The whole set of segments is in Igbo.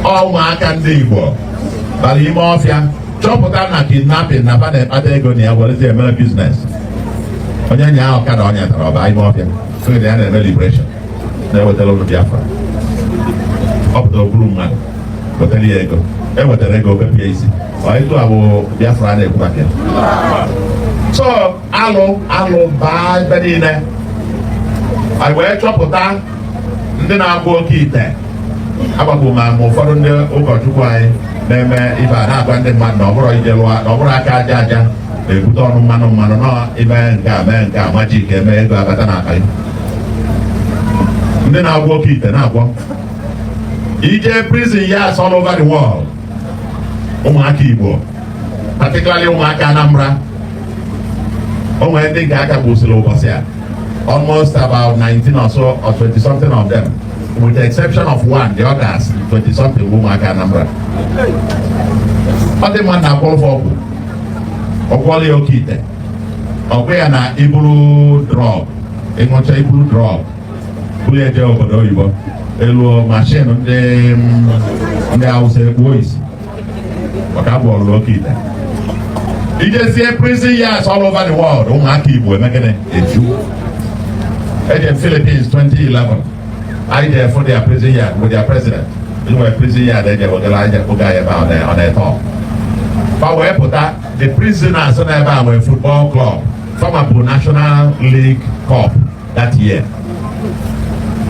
ụmụaka ndị Igbo bara ime ọfịa chọpụta na kidnapping na ba na-ekpata ego na ya werezi emere business onye nya ahụ ka na ọnya tara ọ baa ime ọfịa sịrị na ya na-eme liberation na-ewetara ụnụ Biafra ọ pụtara ọ kpụrụ mmadụ wetara ya ego e wetarọ ego o bepụ ya isi ọ etu a bụ Biafra a na-ekwu maka ya so alụ alụ baa ebe niile anyị wee chọpụta ndị na-agwọ oke ite agbakọ ma ma ụfọdụ ndị ụkọchukwu anyị na-eme ife a na-agwa ndị mmadụ na ọ bụrọ ije lụọ na ọ bụrọ aka aja aja na-ebute ọnụ mmanụ mmanụ na i mee nke a mee nke a magic eme ego abata n'akpa ndị na-agwọ oke ite na-agwọ i jee prison yards all over the world ụmụaka Igbo particularly ụmụaka Anambra o nwere ndị nke a ka gbusiri ụbọchị a almost about 19 or so or 20 something of them with the exception of one the others 20 something bụ ụmụaka Anambra ọ dị maka na a gwọrọ ọgwụ ọ gwọọla ya oke ite ọ gwa ya na i buru drug i ṅụcha i buru drug buru ya jee obodo oyibo i lue machine ndị ndị ọcha ekpuo isi maka a gwọọlụ oke ite i jezie prison yards all over the world ụmụaka Igbo emee gịnị eju eje m Philippines 2011 anyị jee fụ their prison yard with their president nwere prison yard eje wegara aja oge anyị ebe a ọ na-eto fa wee pụta the prisoners nọ ebe a nwere football club fama bụ national league cup that year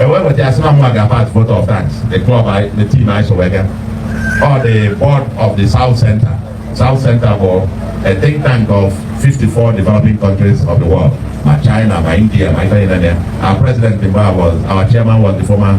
ewee weta asị na mma ga-ama at vote of thanks the club I- the team anyị so wee gaa or the board of the South Center. South Center bụ a think tank of 54 developing countries of the world. Ma China, ma India, ma Italy, na there. Our president in Bar was, our chairman was the former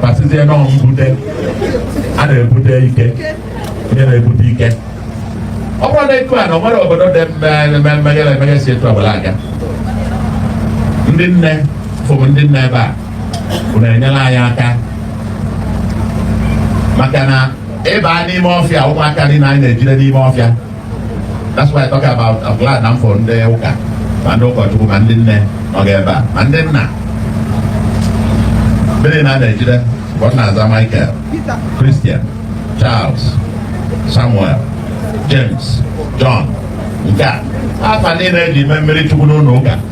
gbasịzie na ọ mbute a na-ebute ike ihe na-ebute ike ọ bụrọ na etu a na o nwere obodo dị mmeghere emeghe si etu ọbụla aga ndị nne afụ m ndị nne ebe a unu enyela anyị aka maka na ịba n'ime ọfịa ụmụaka niile anyị na-ejide n'ime ọfịa That's why I talk about I'm glad na m fụrụ ndị ụka ma ndị ụkọchukwu ma ndị nne nọga ebe a ma ndị nna ndị niile a na-ejide mgbe ọ na-aza Michael Christian Charles Samuel James John nke a afa niile e ji mee mmiri chukwu n'ụlọ ụka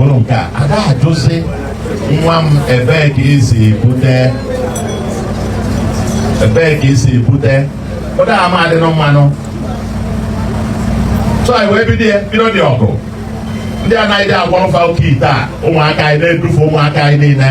ụnụ nke a ada ajụzi nwa m ebee ka i si bute ebee ka i si bute ụdị a ama adịnụ mma nụ so anyị wee bido ya bido ndị ọgwụ ndị a na-agwọrọ fa oke ite a ụmụaka anyị na-edufe ụmụaka anyị niile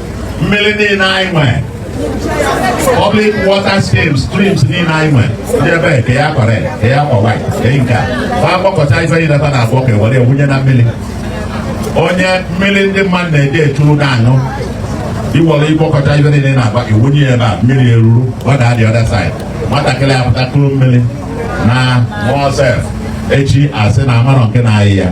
mmiri niile anyị nwere public water streams streams niile anyị nwere ndị ebe ka ya kọrọ ka ya kọ white ka ya nke a ma ekpokọta ife niile ta na-abụ ka were ewunye na mmiri onye mmiri ndị mmadụ na-eji echuru na-aṅụ i were kpokọta ife niile na-agba iwunye ya ebe a mmiri eruru ọ daa the other side nwatakịrị apụta kuru mmiri na mọsef echi asị na amarọ nke na-arịa ya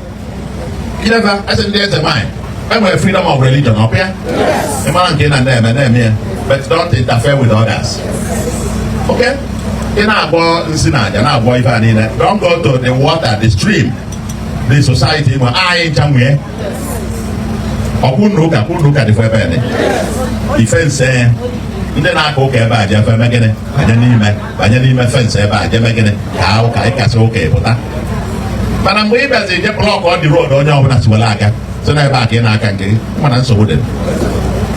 Ileva ese ndị eze nwanyị e nwere freedom of religion ọ bụ ya ị mara nke ị na na-eme na-eme ya but don't interfere with others okay ị na-agwọ nsi na aja na-agwọ ife a niile don't go to the water the stream the society na anyị ncha nwe ọkwụ na ụka kwụ na ụka dịfọ ebe a dị fence ndị na-aka ụka ebe a jebe eme gịnị banye n'ime banye n'ime fence ebe a jee mee gịnị kaa ụka anyị kasịa ụka ị pụta mana mgbe ị bịazi je block the road onye ọbụla si were aga sị na ebe a ka ị na-aka nke gị mana nsogbu dị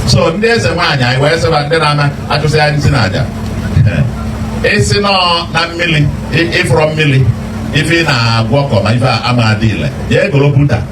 so ndị eze nwaanyị anyị wee sị fa ndị na-ama achụsị anyị nsị na aja ịsị nọ na mmiri ịfụrọ mmiri ife ị na-agwọ ọkọ ma ife a ama adị ile ya egoro buta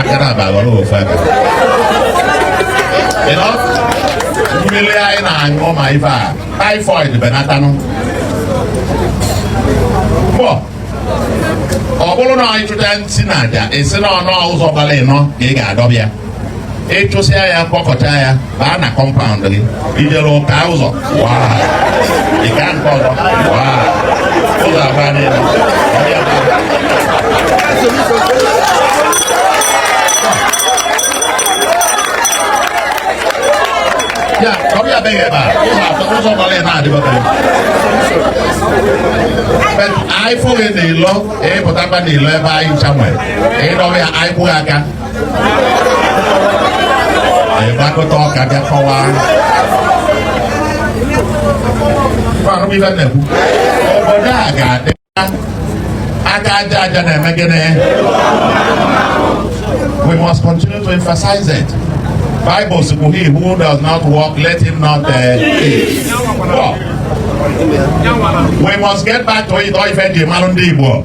akara aba ghọrọ ofu aka mmiri anyị na-aṅụ ma ife a typhoid benatanụ pọ ọ bụrụ na ị chụchaa nsị na aja ị sị na ọnụ ụzọ gbara ịnọ ka ị ga-adọba ya ị chụsịa ya kpokọta ya baa na compound gị ijere ụka ụzọ waa ịga nke ọzọ waa ụzọ agba niile ya ọ bịa be gị ebe a ụzọ atọ ụzọ gbara ebe a dịbọtara But anyị fụ gị n'ilo ị pụtakwa n'ilo ebe anyị ncha nwere ị dọba ya anyị kụ gị aka anyị gbakọta ọka bịa kọwaa Fara m ife m na-ekwu. obodo a ga-adị mma. aka aja aja na-eme gịnị we must continue to emphasize it Bible si kwuo he who does not work let him not uh, eat. Work. we must get back to it ọ ife e ji mara ndị Igbo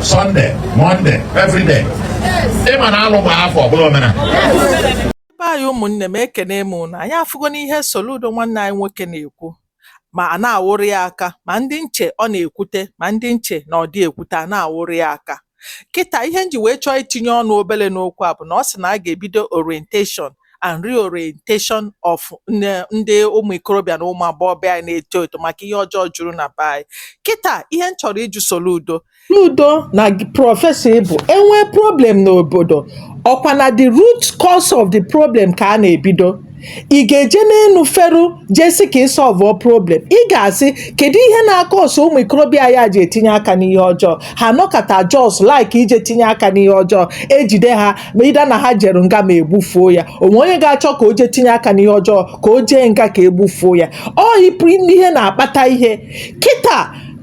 Sunday, Monday, every day. Ị ma na alụ gbaa afọ ọ bụlụ omenala. Be anyị ụmụnne m ekene m unu anyị afụgonụ ihe Soludo nwanne anyị nwoke na-ekwu ma a na-akụrụ ya aka ma ndị m che ọ na-ekwute ma ndị m che na ọ dị ekwute a na-akụrụ ya aka kịta ihe m ji wee chọọ itinye ọnụ obere n'okwu a bụ na ọ sị na a ga-ebido orientation and reorientation of ndị ụmụ ikorobịa na ụmụ agbọghọbịa anyị na-eto eto maka ihe ọjọọ juru na be anyị kịta ihe m chọrọ ịjụ Soludo Soludo na prọfesọ ị bụ e nwee problem n'obodo ọkwa na the root cause of the problem ka a na-ebido ị ga-eje n'enu feru jee sị ka ị solve problem ị ga-asị kedu ihe na-acause ụmụ ikorobịa a ji etinye aka n'ihe ọjọọ ha nọkata just like ije tinye aka n'ihe ọjọọ e jide ha ma either na ha jere nga ma e gbufuo ya o nwe onye ga-achọ ka o jee tinye aka n'ihe ọjọọ ka o jee nga ka e gbufuo ya ọ ịpụ ime ihe na-akpata ihe kịta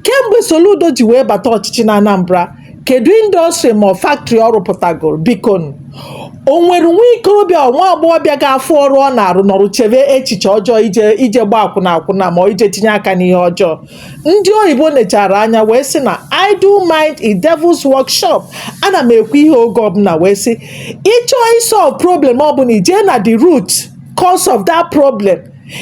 kemgbe Soludo ji wee bata ọchịchị na Anambra kedu industry ma factory ọ rụpụtagoro biko o nwere nwa ikorobịa nwa agbọghọbịa ga-afụ ọrụ ọ na-arụ nọrụ chebe echiche ọjọọ ije ije gba akwụna akwụna ma ọ ije tinye aka n'ihe ọjọọ ndị oyibo nechara anya wee sị na idle mind is devil's workshop a na m ekwu ihe oge ọbụna wee sị ị chọọ isolve problem ọbụna i jee na the root cause of that problem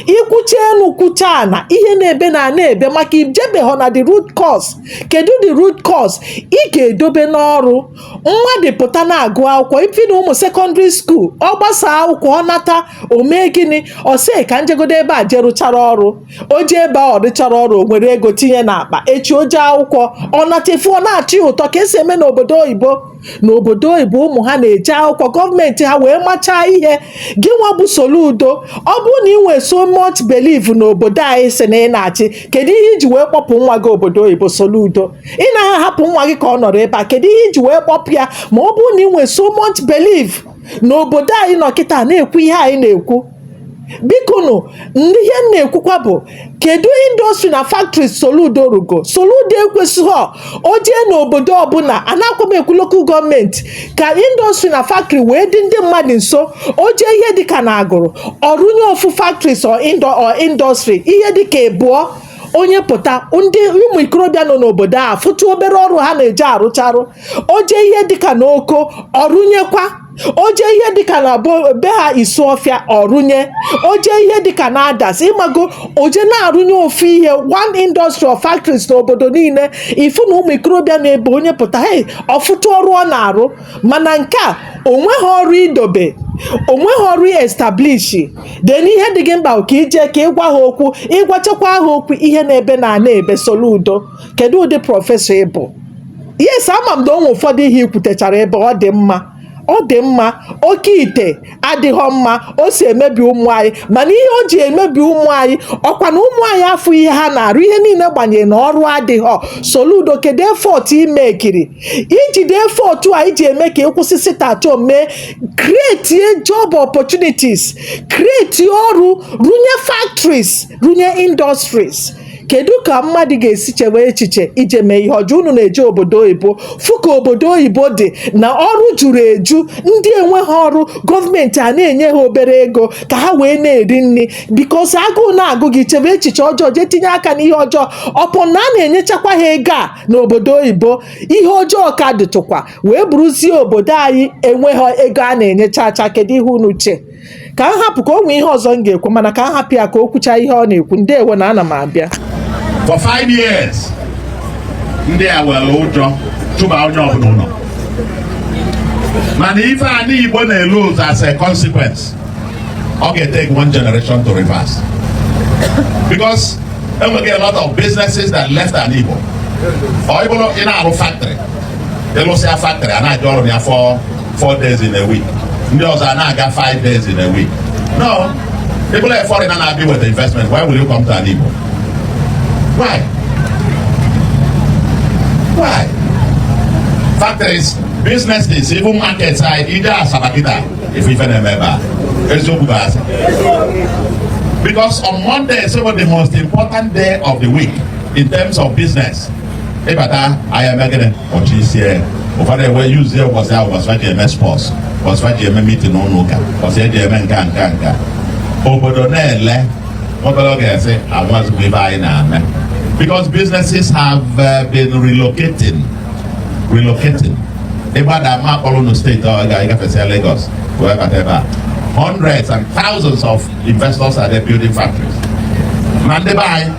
i kwucha enu kwucha ana ihe na-ebe na na-ebe maka i jebeghọ na the root cause kedu the root cause ị ga-edobe n'ọrụ mmadụ pụta na-agụ akwụkwọ even ụmụ sekọndịrị skuul ọ gbasa akwụkwọ ọ nata o mee gịnị ọ sị ka n jegodo ebe a jee rụchara ọrụ o jee ebe a ọ rụchara ọrụ o nwere ego tinye n'akpa echi o jee akwụkwọ ọ natefu ọ na-achị ụtọ ka e si eme n'obodo oyibo n'obodo oyibo ụmụ ha na-eje akwụkwọ gọọmenti ha wee machaa ihe gị nwa bụ Soludo ọ bụrụ na ị nwee so much belief n'obodo anyị sị na ị na-achị kedu ihe i ji wee kpọpụ nwa gị obodo oyibo Soludo ị naghị ahapụ nwa gị ka ọ nọrọ ebe a kedu ihe i ji wee kpọpụ ya ma ọ bụrụ na ị nwee so much belief n'obodo anyị nọ kịta na-ekwu ihe anyị na-ekwu bikonụ ndị ihe m na-ekwukwa bụ kedu industry na factory Soludo rụgo Soludo ekwesighọ o jee n'obodo ọbụna anakwa m ekwu lokal gọọmenti ka industry na factory wee dị ndị mmadụ nso o jee ihe dịka na Agụlụ ọ rụnye ofu factories or indo- or industry ihe dịka ịbụọ onye pụta ndị ụmụ ikorobịa nọ n'obodo afụtụ obere ọrụ ha na-eje arụcharụ o jee ihe dịka n'Oko ọ rụnyekwa o jee ihe dịka na bo- be ha Isuọfịa ọ rụnye o jee ihe dịka na Adazi ị mago o jee na-arụnye ofu ihe one industry or factories n'obodo niile ị fụ na ụmụ ikorobịa nọ ebe onye pụta hey ọ fụtụ ọrụ ọ na-arụ mana nke a o nweghọ ọrụ i dobe o nweghọ ọrụ ị establish then ihe dị gị mkpa ka i je ka ị gwa ha okwu ị gwachakwa ha okwu ihe na-ebe na ana ebe Soludo kedu ụdị professor ị bụ yes ama m na o nwe ụfọdụ ihe i kwutechara ebe ọ dị mma ọ dị mma oke ite adịghọ mma o si emebi ụmụ anyị mana ihe o ji emebi ụmụ anyị ọ kwa na ụmụ anyị afụọ ihe ha na-arụ ihe niile gbanyere na ọrụ adịghọ soludo kedu effort i mekiri i jide effort a i ji eme ka ị kwụsị sit at home ee kretie job opportunities kretie ọrụ runye factories runye industries kedu ka mmadụ ga-esi chewe echiche ije mee ihe ọjọọ unu na-eje obodo oyibo fụ ka obodo oyibo dị na ọrụ juru eju ndị enweghị ọrụ gọọmenti a na-enye ha obere ego ka ha wee na-eri nri because agụụ na-agụ gị ị chebe echiche ọjọọ jee tinye aka n'ihe ọjọọ upon na a na-enyechakwa ha ego a n'obodo oyibo ihe ọjọọ ka dịtụkwa wee bụrụzie obodo anyị enweghị ego a na-enyechacha kedu ihe unu che ka m hapụ ka o nwee ihe ọzọ m ga-ekwu mana ka m hapụ ya ka o kwuchaa ihe ọ na-ekwu ndewo na ana m abịa for five years ndị a were ụjọ chụba onye ọbụna ụnọ mana ife ani igbo na-elose as a consequence ọ ga-etake one generation to reverse because e nwego a lot of businesses that left ani igbo or ị bụrụ ị na-arụ factory ị lụsịa factory a na-eje ọrụ ya for four days in a week ndị ọzọ a na-aga five days in a week now ị bụlụ a foreigner na-abịa with investment why will you come to ani igbo why why factories businesses even markets anyị i jee asaba kịta ị fụ ife na-eme ebe a eziokwu bụ asị because on monday is the most important day of the week in terms of business ị bata ahịa mee gịnị ọchị isi ya ụfọdụ ewe yuzi ya ụbọchị ahụ ụbọchị ha ji eme sports ụbọchị ha ji eme meeting n'ụlọ ụka ụbọchị e ji eme nke a nke a nke a obodo na-ele obere oge a sị amazikwa ife anyị na-eme because businesses have uh, been relocating relocating ị gbada ma a kpọrọ ogun state ọ ga-agafesịa Lagos wee bata ebe a hundreds and thousands of investors are there building factories na ndị be anyị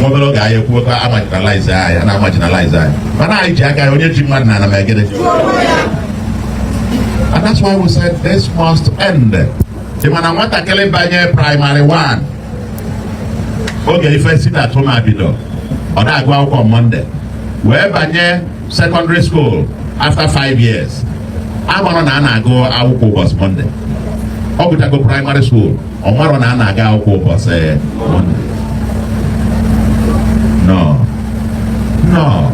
nwa obere oge anyị ekwuo ka a marginalize anyị a na-amarginalize anyị mana anyị ji aka anyị onye ji mmadụ na anamegede and that's why we said this must end ị ma na nwatakịrị banye primary 1 oge ife sit at home a bido ọ da-agụ akwụkwọ monday wee banye secondary school after five years amarọ na a na-agụ akwụkwọ ụbọsị monday ọ gụchago primary school ọ marọ na a na-aga akwụkwọ ụbọchị Mọnde no no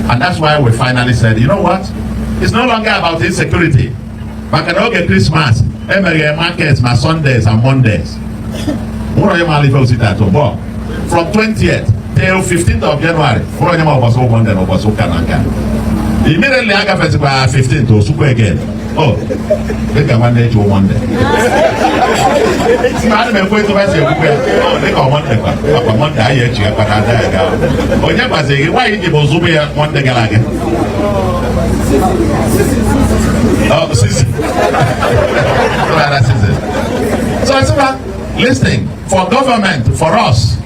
and that's why we finally said you know what it's no longer about insecurity maka na oge Christmas e meghe markets na Sundays and Mondays nwere onye maara ife osita atụ bọọ from 20th till 15th of January nwere onye ma ụbọchị ụbọchị na ụbọchị ụka na nka immediately agafezikwa 15th o sukwa again Oh, dịka nwanne ji nwanne ana m ekwe tụba si ekwukwe oh, dịka nwanne kwa akwa nwanne anyị eji ya kpata ada ya gaa onye gbazighị gị nwaanyị ji bụ zụbụ ya nwanne gara aga oh, sisi so listen for government for us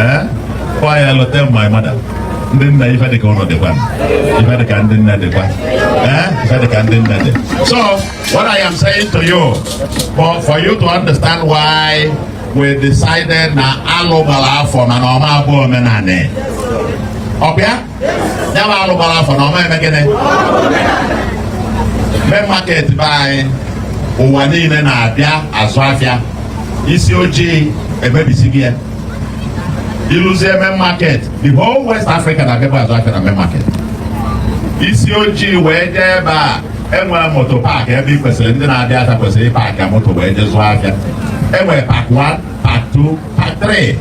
Eh? Kwa ya lote my mother. Ndị nna ife dịka ụlọ dịkwa ife dịka ndị nna dịkwa eh? ife dịka ndị nna dị so what I am saying to you for, for you to understand why we decided na alụ gbara afọ mana ọ ma abụ omenanị ọ bụ ya ya bụ alụ gbara afọ na ọ ma eme gịnị mee market be anyị ụwa niile na-abịa azụ afịa isi ojii emebisighị ya i luzie main market the whole West Africa na-abịakwa azụ afịa na main market isi ojii wee jee ebe e nwere motor park ebe ị kwesịrị ndị na-abịata kwesịrị ịpaakị moto wee jee zụọ afịa e nwere park 1 park 2 park 3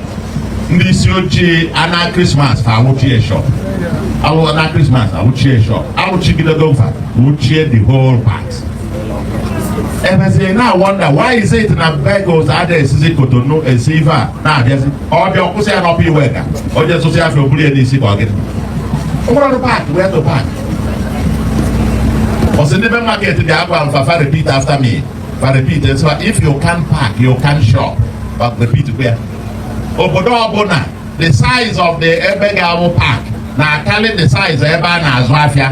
ndị isi ojii anaa Christmas fa awụchie shop anaa Christmas awụchie shop awụchigidego fa wụchie the whole park e mezie a na-wonder why is it na vehicles ada esizi Cotonou esi ife a na-abịazi ọ bịa ọ kwụsị ya n'Upper Iweka onye zụsị afịa o buru ya n'isi ka ọ gịnị o nwerọ park where to park ọ sị ndị be market dị agwalụ fa fa repeat after me fa repeat nsọ if you can't park you can't shop but repeat kwa ya obodo ọbụla the size of the ebe ga-abụ park na-akarị the size ebe a na-azụ afịa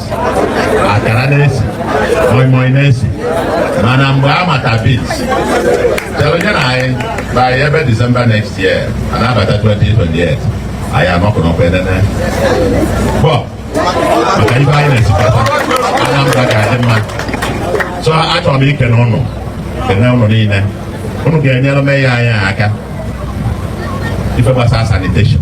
akara na-esi moimoi na-esi mana mgbe a mata bit chelụ nye nụ anyị by ebe December next year a na-abata 2028 anyị anọkụ n'Ọka enene bọl maka ife anyị na-esikọta Anambra ga-adị mma so achọrọ m ikene ụnụ kene ụnụ niile ụnụ ga-enyere mayor anyị aka ife gbasara sanitation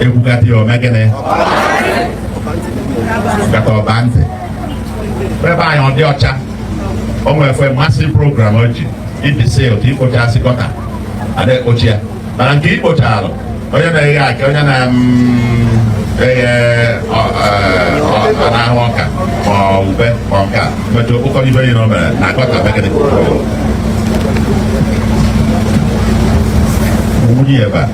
ekwukata ya o mee gịnị kata ọba ntị ebe anyị ọ dị ọcha o nwere efe mmasị program o ji ibi sil ka i kpochasị gọta ada ekpochi ya mana nke i kpochara onye na-eghe aka onye na eghe na-ahụ ọka ma ube ma ọka metụ o kpokọọ ibe yi na o mere na gọta begịnị wụnye ebe a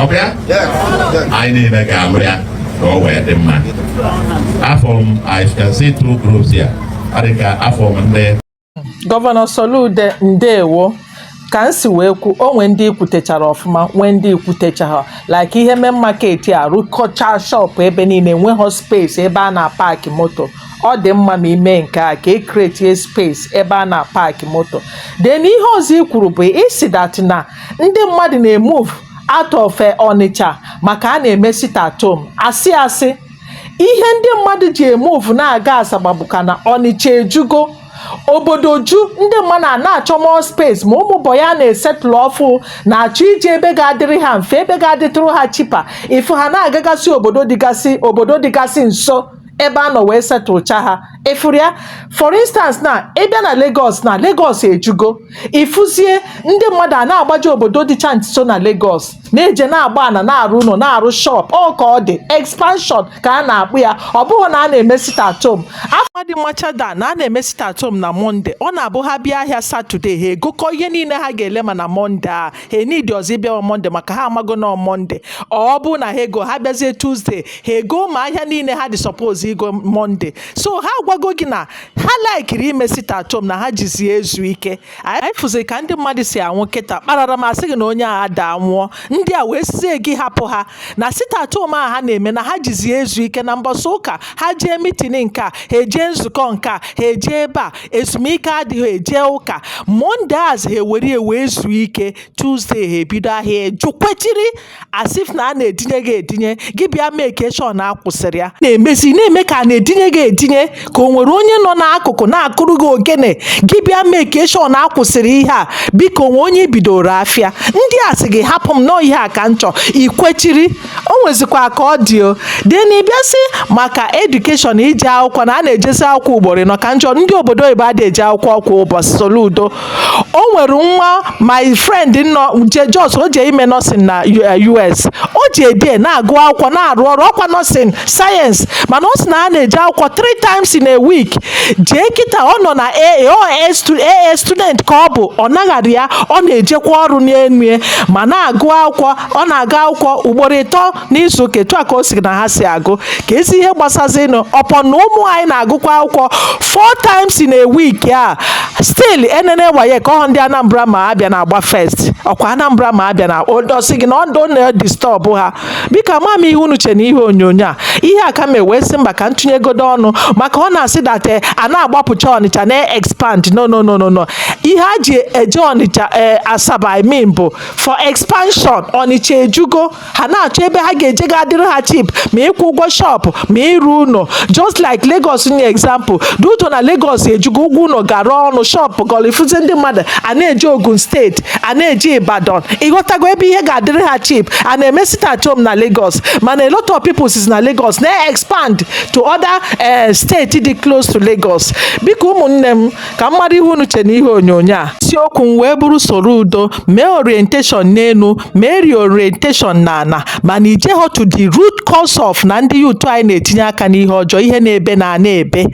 ọ bụ ya anyị niile ga-alụ ya ka ọ wee dị mma afụ m I can see two groups here ọ dị ka afụ m ndị gọvanọ Soludo ndewo ka m si wee kwu o nwee ndị i kwutechara ọfụma nwee ndị i kwutecharọ like ihe Main Market a rụkọcha shọpụ ebe niile enweghị space ebe a na-apaki moto ọ dị mma ma i mee nke a ka e kretie space ebe a na-apaki moto then ihe ọzọ i kwuru bụ is that na ndị mmadụ na-emove out of eh, Ọnịcha maka a na-eme sit at home asị asị ihe ndị mmadụ ji emove na-aga Asaba bụkwa na Ọnịcha ejugo obodo ju ndị mmadụ a na-achọ more space ma ụmụ boy a na-esetụlụ ọfụụ na-achọ ije ebe ga-adịrị ha mfe ebe ga-adịtụrụ ha cheaper ị fụ ha na-agagasị obodo dịgasị obodo dịgasị nso ebe a nọ wee setụlcha ha ị fụrụ ya for instance na ị bịa na Lagos na Lagos ejugo ị fụzie ndị mmadụ a na-agbaje obodo dịcha nso na Lagos na-eje na-agba ana na-arụ ụnọ na-arụ shop ọọ ka ọ dị expansion ka a na-akpọ ya ọ bụghị na a na-eme sit at home ụfọdụ machara na a na-eme sit at home na Monday ọ na-abụ ha bịa ahịa Saturday ha egokọ ihe niile ha ga-ele ma na Monday a ha enidirọzi ịbịa on Monday maka ha amago na Monday ọ bụna ha ego ha bịazie Tuesday ha ego ma ahịa niile ha dị supposed igo Monday so ha agwago gị na ha likiri ime sit at home na ha jizi ezu ike anyị fụzi ka ndị mmadụ si anwụ kịtaa kpararam a sị gị na onye a adaa nwụọ ndị a wee sịzie gị hapụ ha na sit at home a ha na-eme na ha jizi ezu ike na mbọsị ụka ha jee meeting nke a ha ejee nzukọ nke a ha ejee ebe a ezumike adịghị ejee ụka Mondays ha ewere wee zuo ike Tuesday ha ebido ahịa i ji kwechiri as if na a na-edinye gị edinye gị bịa make sure na a kwụsịrị ya na-emezi na-eme ka a na-edinye gị edinye ka o nwere onye nọ n'akụkụ na-akụrụ gị ogene gị bịa make sure na a kwụsịrị ihe a biko o nwee onye i bidooro afịa ndị a sị gị hapụ m nọọ ihe a ka m chọ ikwechiri o nwezikwa ka ọ dị o then ị bịazie maka education ije akwụkwọ na a na-ejezi akwụkwọ ugboro anọ ka njọ ndị obodo oyibo adị eje akwụkwọ kwa ụbọchị Soludo o nwere nwa my friend nọ je just o je ime nursing na us eh, o ji ebie na-agụ akwụkwọ na-arụ ọrụ ọ kwa nursing science mana ọ sị na a na-eje akwụkwọ three times in a week jee kịta ọ nọ na aa student ka ọ bụ ọ naghara ya ọ na-ejekwa ọrụ n'enue ma na-agụ akwụkwọ ọ na-agụ akwụkwọ ugboro ịtọ n'izu ụka etu a ka o si na ha si agụ kezi ihe gbasazinụ ọ bụ na ụmụ anyị na-agụkwa akwụkwọ four times in a week a still enene WAEC ahụ ndị anambra ma abịa na-agba first ọ kwa anambra ma abịa na ọ sị gị na ọ na-edistọbụ ha biko ka m ma ihe unu che na ihe onyonyo a ihe a ka m ewee sị mba ka m tụnyegodo ọnụ maka ọ na-asị that a na-agbapụcha ọnịcha na-expand no no no no no ihe a ji eje ọnịcha asaba i mean bụ for expansion ọnịcha ejugo ha na-achọ ebe ha ga-eje ga adịrị ha cheap ma ịkwụ ụgwọ shop ma ịrụ ụlọ just like Lagos nye example due to na Lagos ejugo ụgwọ ụlọ gara ọnụ shop gara ị fụzi ndị mmadụ a na-eje Ogun state a na-eje Ibadan ị ghọtago ebe ihe ga-adịrị ha cheap a na-eme sit at home na Lagos mana a lot of people si na Lagos na-expand to other eh, state dị close to Lagos biko ụmụnne m ka m mara ihe unu che n'ihe onyonyo a isiokwu m wee bụrụ Soludo mee orientation n'elu mee reorientation n'ala mana i jeghọ to the root cause of na ndị youth anyị na-etinye aka n'ihe ọjọọ ihe na-ebe na ana ebe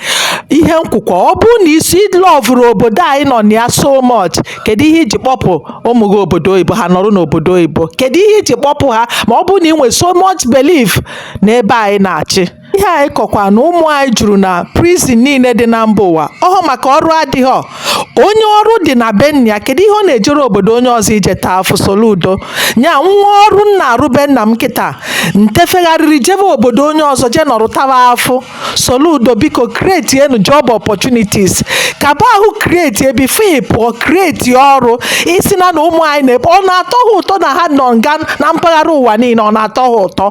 ihe m kwukwa ọ bụrụ na i si lọvụrụ obodo anyị nọ na ya so much kedu ihe i ji kpọpụ ụmụ gị obodo oyibo ha nọrọ n'obodo oyibo kedu ihe i ji kpọpụ ha ma ọ bụrụ na ị nwere so much belief n'ebe anyị na-achị ihe anyị kọkwa na ụmụ anyị juru na prison niile dị na mba ụwa ọ bụ maka ọrụ adịghọ onye ọrụ dị na be nna ya kedu ihe ọ na-ejere obodo onye ọzọ ije taa afụ Soludo nya nwee ọrụ m na-arụ be nna m kịta m tefegharịrị jebe obodo onye ọzọ jee nọrụ tawa afụ Soludo biko kretienu job opportunities kaba ahụ kreti ebi fee pụọ kreti ọrụ ị sị na na ụmụ anyị na-ebe ọ na-atọ ha ụtọ na ha nọ nga na mpaghara ụwa niile ọ na-atọ ha ụtọ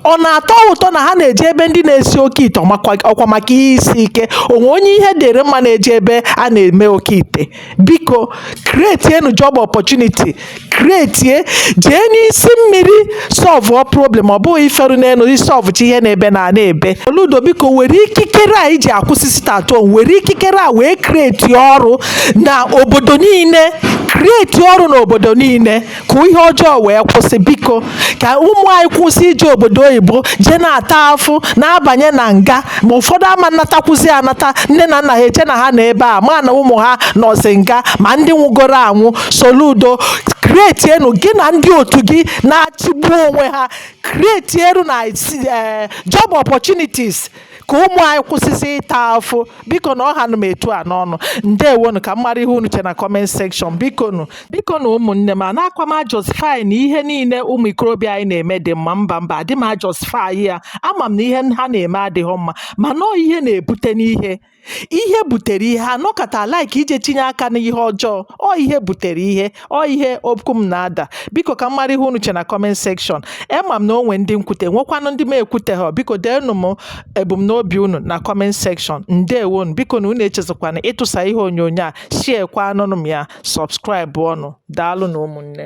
ọ na-atọ ha ụtọ na ha na-eje ebe ndị na-esi oke ite ọ kwa maka ihe isi ike o nwe onye ihe dịrị mma na-eje ebe a na-eme oke ite biko kretienu job opportunity kretie jee n'isi mmiri sọlvụọ problem ọ bụghị iferu n'elu isọlvụchi ihe na-ebe na ana ebe Soludo biko were ikikere a i ji akwụsị sit at home were ikikere a wee kreti ọrụ na obodo niile kreti ọrụ na obodo niile ka ihe ọjọọ wee kwụsị biko ka ụmụ anyị kwụsị ije obodo oyibo jee na-ata afụ na-abanye na nga ma ụfọdụ ama anatakwuzi anata nne na nna ha eche na ha nọ ebe a mana ụmụ ha nọzi nga ma ndị nwụgoro anwụ Soludo kretienu gị na ndị otu gị na-achịgbu onwe ha kretienu na eh, job opportunities ka ụmụ anyị kwụsịzị ịta afụfụ bikonu ọ ha nụ m etu a n'ọnụ ndewonu ka m mara ihe unu che na comment section bikonu bikonu ụmụnne m anakwa m ajustify na ihe niile ụmụ ikorobịa anyị na-eme dị mma mba mba adị m ajustify ya ama m na ihe ha na-eme adịghị mma mana ọ ihe na-ebute n'ihe ihe butere ihe a nọkata like ije tinye aka n'ihe ọjọọ ọ ihe butere ihe ọ ihe okwu m na-ada biko ka m mara ihe unu che na comment section ama m na o nwe ndị m kwute nwekwanụ ndị m ekwute ha biko deenụ m ebumnobi unu na comment section ndewonu bikonu unu echezọkwana ịtụsa ihe onyonyo a share kwanụnụ m ya subscribe ọnụ daalụnụ ụmụnne m